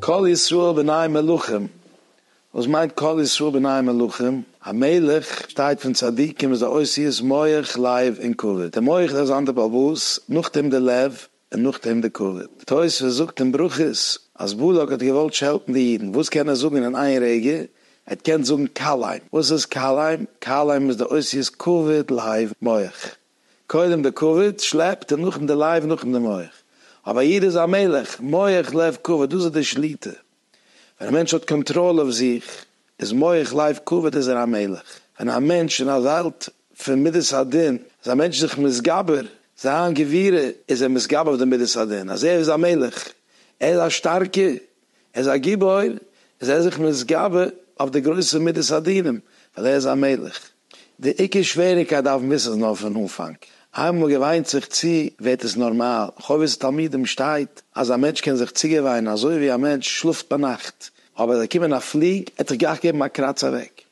קול ישראל בני מלכים, וואס מיינט קול ישראל בני מלכים? א מלך שטייט פון צדיקים איז א אותיות מח לב און כבד, דער מח איז א זאנדער בעל באס, נאכדעם דער לב, און נאכדעם די קאוויד. תוספות זאגט אין ברכות אז בלק האט געוואלט שעלטן די אידן, וואס קען ער זאגן אין איין רגע? ער האט געקענט זאגן כלאיים. וואס איז כלאיים? כלאיים איז די אותיות כבד לייב מח. קודם די כבד שלעפט און נאכדעם די לייב נאכדעם די מח. אבער א איד איז א מלך, מח לב כבד, דאס איז די שליטה. ווען א מענטש האט קאנטראל אויף זיך, איז מח לייב כבד איז ער א מלך. ווען א מענטש אין א וועלט פון מידת הדין, איז א מענטש זיך מתגבר, זיין גבירה, איז ער מתגבר אויף די מידת הדין, אז ער איז א מלך, ער איז א שטארקער, ער איז א גיבור, איז ער זיך מתגבר אויף די גרויסע מידת הדינים, ווייל ער איז א מלך. די עיקר שוועריקייט דארף מען וויסן איז נאר פון אנפאנג, איינמאל מען געוויינט זיך צו ווערט עס נארמאל, חובת התלמידים שטייט אז א מענטש קען זיך צוגעוויינען אזוי ווי א מענטש שלאפט ביינאכט אבער עס וועט קומען א פליג ער עט זיך גלייך געבן א קראץ אוועק,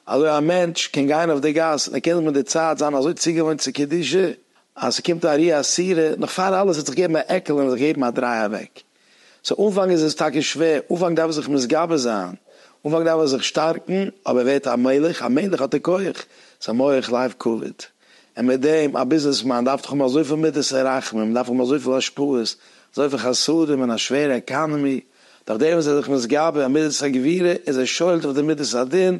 אזוי א מענטש קען גיין אויף די גאס און ער קען זיך מיט די צייט זיין אזוי צוגעוואוינט צו קדושה אז ס'קומט א רי א סירא נאך פאר אלעס ער עט זיך געבן א עקל און זיך געבן א דריי אוועק. סאו אנפאנג איז עס טאקע שווער, אנפאנג דארף ער זיך מתגבר זיין, אנפאנג דארף ער זיך שטארקן, אבער ער ווערט א מלך, א מלך האט ער כח, זיין מח לייוו קאוויד, און מיט דעם, א ביזנעס מאן דארף דאך האבן אזויפיל מידות און רחמים, מען דארף האבן אזויפיל השפעות, אזויפיל חסדים אין א שווערע עקאנעמי, דורך דעם איז ער זיך מתגבר, מידת הגבירה איז ער שולט אויף די מידת הדין,